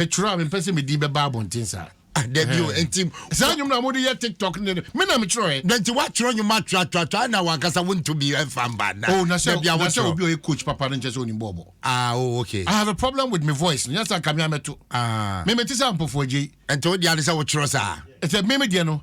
twerɛ a mempɛ sɛ medin bɛba abɔnten saa. Ah, dabi o, nti. Saa nnwom na mode yɛ TikTok ne me na metwerɛɛ. Na nti woatwerɛ nnwom atwerɛatwerɛatwerɛ na wankasa wonto bi ɛmfa mba nna. Oh, na sɛ dabi a na sɛ obi a ɔyɛ coach papa no nkyɛ sɛ onim bɔɔbɔ. Ah, oh, okay. I have a problem with me voice no, nyɛ sɛ anka me a mɛto. Ah. Me mete sɛ Ampofo Adjei. Nti wo deɛ ne sɛ wotwerɛ saa? Sɛ me me deɛ no.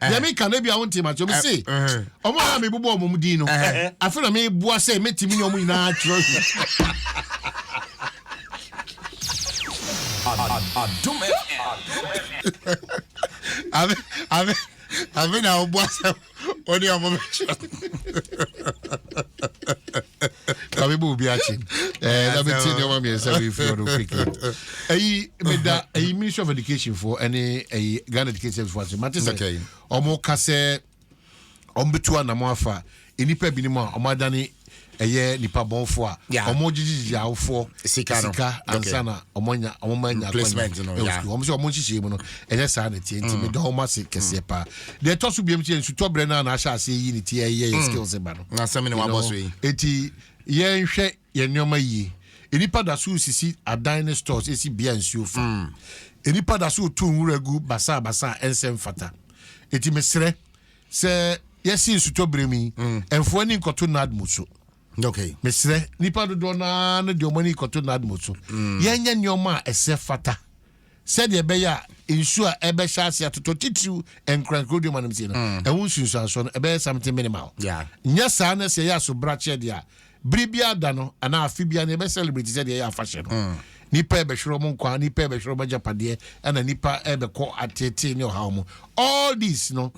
deɛ meka no bia wontee makyerɛ me se ɔmo a na mebobɔ ɔmo din no afe na meboa sɛ mɛtumi ne ɔmo nyinaa atwerɛ Adum FM. I've been out, boss. Only a moment. na mebɔ obi akye eh, na metie nneɛma mmiɛnsa wei firi ɔno quickly ɛyi meda ɛyi ministry of education foɔ ɛne ɛyi ghana education service foɔ ase mate sɛ ɔmo ka sɛ ɔmo bɛtu anamo afa nnipa binom a ɔmo adane ɛyɛ nipa bɔnfo a ɔmo gyegyegye awofoɔ sika no sika ansa na ɔmo nya ɔmo ma nya placement no ya ɔmo sɛ ɔmo nhyehyɛ mu no ɛnyɛ saa na tie nti mm. mi dɔn ɔmo ase kɛseɛ mm. paa deɛ ɛtɔ so biam sɛ nsutɔ brɛ naa na ahyɛ ase yi ne ti ɛyɛ yɛ mm. skills ba no na asɛm ne wabɔ so yi eti yɛnhwɛ yɛn nneɛma yie nnipa da so sisi adan ne stores esi bea nsuo fa nnipa da so tu nwura gu basaa basaa ɛnsɛ mfata eti mesrɛ sɛ yɛsi nsutɔ brɛ mi ɛnfoɔ ne nkɔto nad mu so. Okay. Mesrɛ nipa dodoɔ no ara no de wɔn ani kɔto NADMO so. Mm. Yɛnyɛ nneɛma a ɛsɛ fata sɛdeɛ ɛbɛyɛ a nsuo a ɛbɛhyɛ ase atotɔ titiriw nkorankoro deɛ ɔmanam sie no mm. ɛho nsunsuansoɔ no ɛbɛyɛ something minimal. Nyɛ saa na sɛ ɛyɛ asobrakyɛ deɛ a bere biara da no anaa afe biara no ɛbɛ celebrate sɛdeɛ ɛyɛ afahyɛ no. Mm. Nipa ɛbɛhwerɛ wɔn nkwa, nipa ɛbɛhwerɛ wɔn agyapadeɛ, ɛna nipa ɛbɛkɔ atetee ne ɔhaw mu. All this no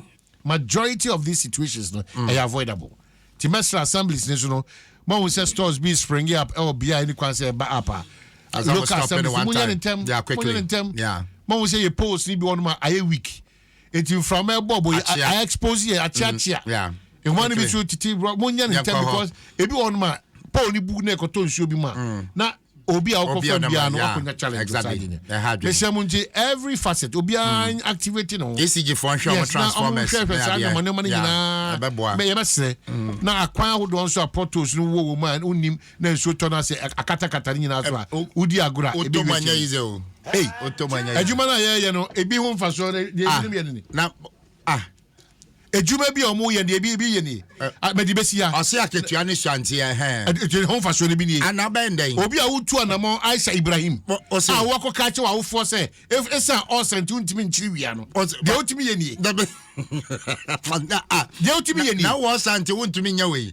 Majority of these situations no ɛyɛ avoidable nti mɛsrɛ assemblies no so no moahu sɛ stores bi springe up ɛwɔ bea a ɛni kwan sɛ ɛba up a local assemblies no monyɛ ne ntɛm monyɛ ne ntɛm moahu sɛ yɛ poles no bi wɔnom a ayɛ weak nti mframa ɛbɔ bɔ yɛ a expose yɛ akyeakyea nwa no bi so tete monyɛ ne ntɛm because ebi wɔnom a pole no bu na ɛkɔtɔ nsuo bi mu a na obi a wokɔ fam biara no wakonya challenge saa de nyɛ mehyɛ mu nti every facet obiara mm. activate no ECG fo nhwɛ wɔn transformers yes na wɔn hwɛ saa nneɛma nneɛma no nyinaa ɛbɛboa mɛ yɛbɛsrɛ mm. na akwan ahodoɔ nso a potholes no wɔ wɔn a wonim na nsuo tɔ no ase akatakata no nyinaa so a eh, wodi agorɔ a ebi wɔ akyire ei adwuma no a yɛyɛ no ebi ho mfasoɔ no deɛ ebinom ah. yɛ no ni ah ah Edwuma bi a wɔyɛ deɛ ebi ebi yɛ nie. A bɛde bɛsi ha. Ɔse akatua ne sua nti ɛhɛn. Ɛde ɛde ho nfasoɔ no bi nie. Ana bɛn dɛn? Obi a wotu anamɔn Aisha Ibrahim Ɔ ɔse. a woakɔ ka akyɛ w'awofoɔ sɛ ef esan ɔɔsa nti wontumi nkyere wia no. Ɔse deɛ wotumi yɛ nie. Dabi Deɛ wotumi yɛ nie. Na ɔɔsa nti wontumi nyɛ wei.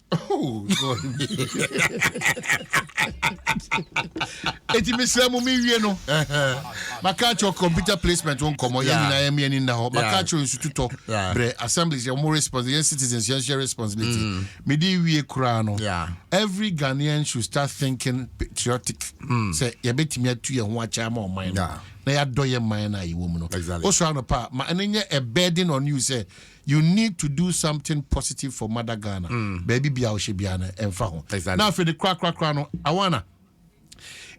Oh, eti mesrɛ mo mewie no maka kyerɛ computer placement ho nkɔmmɔ yɛ nyinaa yɛme ani nna hɔ maka kyerɛ nsututɔ berɛ assemblies yɛ mo response yɛn citizens yɛnhyɛ responsibility mm. mede wie koraa no every ghanaian should start thinking patriotic mm. sɛ yɛbɛtumi atu yɛn ho akyɛ ama ɔman no na yɛadɔ yɛ man no a yɛwɔ mu no wosɔre anɔpa a ma ɛno nyɛ a burden on you sɛ you need to do something positive for mother Ghana baabi bia wohyɛ bia no ɛmfa ho Exactly. na afei de korakorakora no awana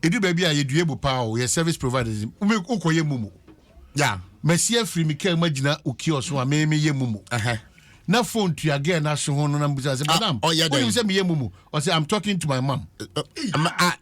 ɛdu baabi a yɛdua bu paa o yɛ service providers wome wokɔyɛ mumu Yeah. masi afiri me kaa mu agyina wo kiosk ho a me meyɛ mumu Ɛhɛ. na phone tua girl no ahwe ho no na mbisa sɛ Ah, madam ɔyɛ dɛn? wonim sɛ meyɛ mumu ɔsɛ I'm talking to my mom Eh, eh, ma- ah,